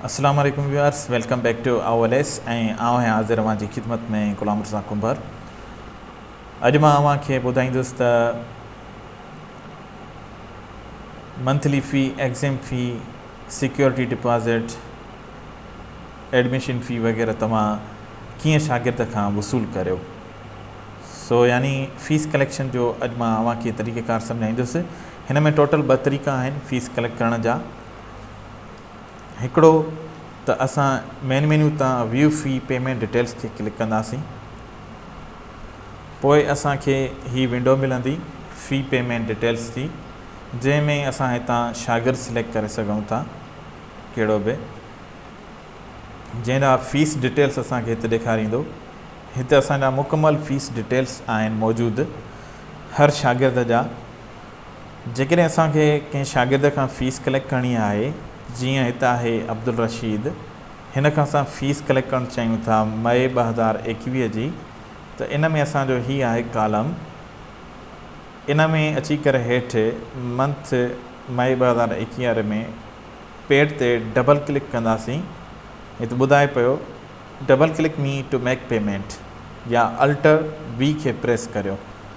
اسلام عليڪم viewers welcome back to I L S ۽ آء آهيان حاضر اوهان جي خدمت ۾ غلام مرزا ڪنڀر اڄ مان اوهان کي ٻڌائيندس ته monthly fee exam fee security deposit admission fee وغيره توهان ڪيئن شاگرد کان وصول ڪريو سو يعني فيس ڪليڪشن جو اڄ مان اوهان کي طريقه ڪار سمجھائيندس هن ۾ ٽوٽل ٻه طريقا آهن فيس ڪليڪٽ ڪرڻ جا هڪڙو ته اسان مين مينيو تان ويو في پيمينٽ ڊيٽيلز تي ڪلڪ ڪنداسين پوء اسان کي هي ونڊو ملندي في پيمينٽ ڊيٽيلز جي جنهن ۾ اسان هتان شاگرد سليڪٽ ڪري سگهون ٿا ڪهڙو به جنهن جا فيس ڊيٽيلز اسان کي هت ڏيکاريندو هت اسان جا مڪمل فيس ڊيٽيلز آهن موجود هر شاگرد جا جيڪڏهن اسان کي ڪنهن شاگرد کان فيس ڪليڪٽ ڪرڻي آهي، جيئن هت آهي عبدالرشيد، هن کان اسان فيس ڪليڪٽ ڪرڻ چاهيون ٿا مئي ٻه هزار ايڪويهه جي، ته ان ۾ اسان جو هي آهي ڪالم، ان ۾ اچي ڪري هيٺ منٿ مئي ٻه هزار ايڪويهه واري ۾ پيڊ تي ڊبل ڪلڪ ڪنداسين، هت ٻڌائي پيو، Double click me to make payment يا Alter V کي پريس ڪريو.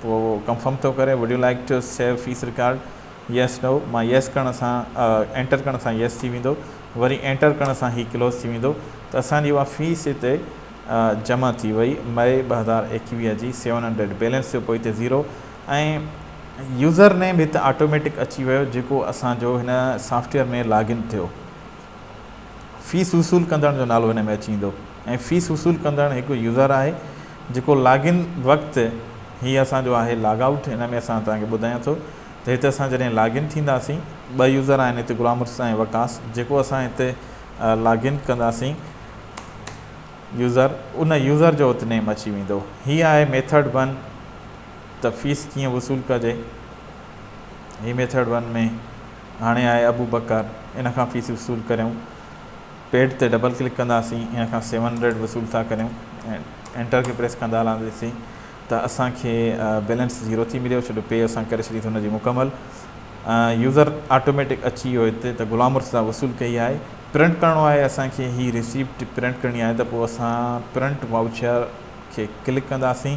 پوء اهو ڪنفرم ٿو ڪري Would you like to save face record Yes No مان Yes ڪرڻ سان Enter ڪرڻ سان Yes ٿي ويندو وري Enter ڪرڻ سان هي ڪلوز ٿي ويندو ته اسان جي اها فيس هتي جمع ٿي وئي May ٻه هزار ايڪيويهه جي سيون هنڊريڊ بيلنس ٿيو پوء هتي زيرو ۽ يوزر نيم هتي آٽوميٽڪ اچي ويو جيڪو اسان جو هن سافٽويئر ۾ لاگ ان ٿيو. فيس وصول ڪندڙ جو نالو هن ۾ اچي ويندو ۽ فيس وصول ڪندڙ هڪ يوزر آهي جيڪو لاگ ان وقت هي اسان جو آهي لاگ آئوٽ ان ۾ اسان توهان کي ٻڌايان ٿو ته هتي اسان جڏهن لاگ ان ٿينداسين ٻه يوزر آهن هتي غلام مرتضيٰ ۽ وقاص جيڪو اسان هتي لاگ ان ڪنداسين يوزر ان يوزر جو ات نيم اچي ويندو هي آهي ميٿڊ ون ته فيس ڪيئن وصول ڪجي هي ميٿڊ ون ۾ هاڻي آء ابو بڪر ان کان فيس وصول ڪريون پيڊ تي ڊبل ڪلڪ ڪنداسين ان کان سيون هنڊريڊ وصول ٿا ڪريون انٽر کي پريس ڪندا هلنداسين ته اسان کي بيلنس زيرو ٿي مليو ڇو جو پي اسان ڪري ڇڏي ٿي ان جي مڪمل يوزر آٽوميٽڪ اچي ويو هتي ته غلام مرتضا وصول ڪئي آهي پرنٽ ڪرڻو آهي اسان کي هي ريسيپٽ پرنٽ ڪرڻي آهي ته پوء اسان پرنٽ واوچر کي ڪلڪ ڪنداسين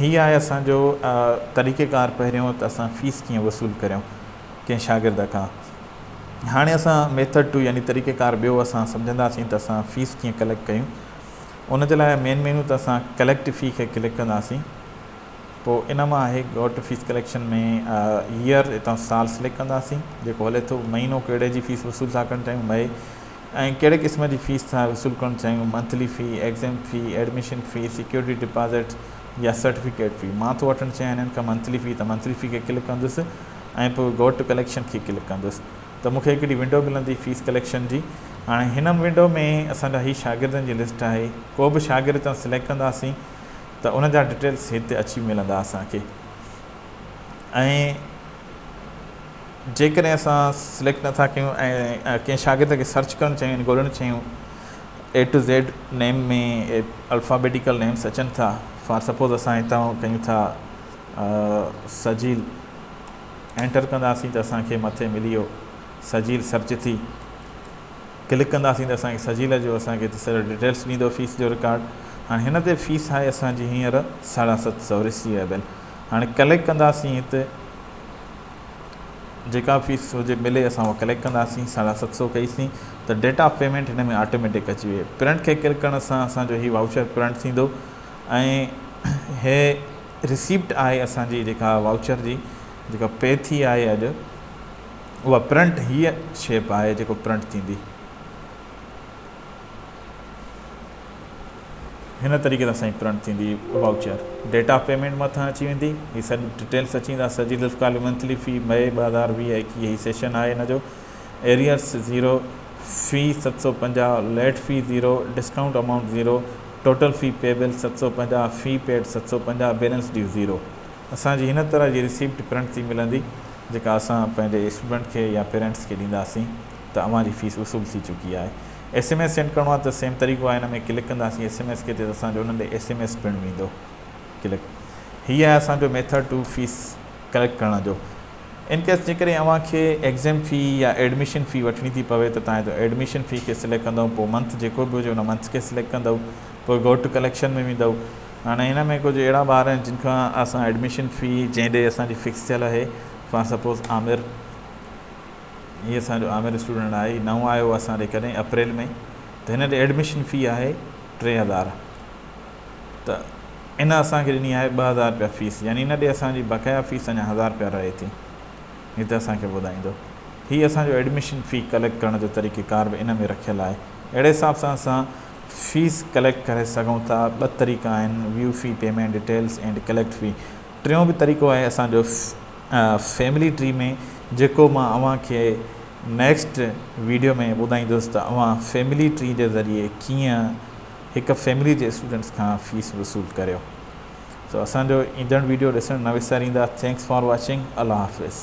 هي آهي اسان جو طريقه ڪار پهريون ته اسان فيس ڪيئن وصول ڪريون ڪنهن شاگرد کان هاڻي اسان ميٿڊ ٽو يعني طريقه ڪار ٻيو اسان سمجهنداسين ته اسان فيس ڪيئن ڪليڪٽ ڪيون ان جي لاء مين مينو ته اسان ڪليڪٽ في کي ڪلڪ ڪنداسين پوء ان مان آهي go to fees collection ۾ year اتان سال سليڪٽ ڪنداسين جيڪو هلي ٿو مهينو ڪهڙي جي فيس وصول ٿا ڪرڻ چاهيون مئي ۽ ڪهڙي قسم جي فيس ٿا وصول ڪرڻ چاهيون، monthly fee, exam fee, admission fee, security deposit يا سرٽيفڪيٽ في. مان ٿو وٺڻ چاهيان هنن کان منٿلي في ته منٿلي في کي ڪلڪ ڪندس ۽ پوء گو ٽو ڪليڪشن کي ڪلڪ ڪندس ته مون کي هڪڙي ونڊو ملندي فيس ڪليڪشن جي. هاڻي هن ونڊو ۾ اسان جا هي شاگردن جي لسٽ آهي ڪو به شاگرد هتان سليڪٽ ڪنداسين ته ان جا ڊٽيلس هتي اچي ملندا اسان کي ۽ جيڪڏهن اسان سليڪٽ نٿا ڪيون ۽ ڪنهن شاگرد کي سرچ ڪرڻ چاهيون يعني ڳولهڻ چاهيون A to Z name ۾ alphabetical names اچن ٿا فار سپوز اسان هتان ڪيون ٿا سجيل انٽر ڪنداسين ته اسان کي مٿي ملي ويو سجيل سرچ ٿي ڪلڪ ڪنداسين ته اسان کي سجيل جو اسان کي سڄو ڊيٽيلس ڏيندو فيس جو رڪارڊ هاڻي هن تي فيس آهي اسان جي هينئر ساڍا ست سؤ رسيويبل هاڻي ڪليڪ ڪنداسين هت جيڪا فيس هجي ملي اسان اها ڪليڪ ڪنداسين ساڍا ست سو ڪئيسين ته ڊيٽ آف پيمنٽ هن ۾ آٽوميٽڪ اچي وئي پرنٽ کي ڪلڪ ڪرڻ سان اسان جو هي واؤچر پرنٽ ٿيندو ۽ هي رسيپٽ آهي اسانجي جيڪا واؤچر جي جيڪا پي ٿي آهي اڄ اها پرنٽ هيء شيپ آهي جيڪو پرنٽ ٿيندي هن طريقي سان سائين پرنٽ ٿيندي وائوچر ڊيٽ آف پيمينٽ مٿان اچي ويندي هي سڀ ڊيٽيلس اچي ويندا سجي لفڪ علي منٿلي في مئي ٻه هزار ويهه ايڪيهه هي سيشن آهي هن جو ايريئرس زيرو في ست سؤ پنجاهه late fee zero discount amount zero total fee payable ست سؤ پنجاهه في پيڊ ست سؤ پنجاهه بيلنس ڊيو زيرو اسان جي هن طرح جي رسيپٽ پرنٽ ٿي ملندي جيڪا اسان پنهنجي اسٽوڊنٽ کي يا پيرنٽس کي ڏينداسين ته اوهان جي فيس وصول ٿي چڪي آهي ايس ايم ايس سينڊ ڪرڻو آهي ته سيم طريقو آهي هن ۾ ڪلڪ ڪنداسين ايس ايم ايس کي تي ته اسان جو انهن ڏي ايس ايم ايس پڻ ويندو ڪلڪ هي آهي اسان جو ميٿڊ ٽو فيس ڪليڪٽ ڪرڻ جو ان ڪيس جيڪڏهن اوهان کي ايگزيم في يا ايڊميشن في وٺڻي ٿي پوي ته تانهي ته ايڊميشن في کي سليڪٽ ڪندو پوء منٿ جيڪو به هجي ان منٿ کي سليڪٽ ڪندو پوء گو ٽو ڪليڪشن ۾ ويندو هاڻي ان ۾ ڪجهه اهڙا ٻار آهن جن کان اسان ايڊميشن في جنهن ڏي اسان جي فڪس ٿيل آهي فار سپوز عامر هي اسان جو عامر اسٽوڊنٽ آهي نئون آيو اسان ڏي ڪڏهن اپريل ۾ ته هن ڏي ايڊميشن في آهي ٽي هزار ته ان اسان کي ڏني آهي ٻه هزار رپيا فيس يعني ان ڏي اسان جي بقايا فيس اڃا هزار رپيا رهي ٿي هي ته اسان کي ٻڌائيندو هي اسان جو ايڊميشن في ڪليڪٽ ڪرڻ جو طريقيڪار به ان ۾ رکيل آهي اهڙي حساب سان اسان فيس ڪليڪٽ ڪري سگهون ٿا ٻه طريقا آهن view fee payment details and collect fee ٽيون به طريقو آهي اسان جو فيملي ٽري ۾ جيڪو مان اوهان کي نيڪسٽ ويڊيو ۾ ٻڌائيندس ته اوهان فيملي ٽري جي ذريعي ڪيئن هڪ فيملي جي اسٽوڊنٽس کان فيس وصول ڪريو سو اسان جو ايندڙ ويڊيو ڏسڻ نه وساريندا ٿينڪس فار واچنگ الله حافظ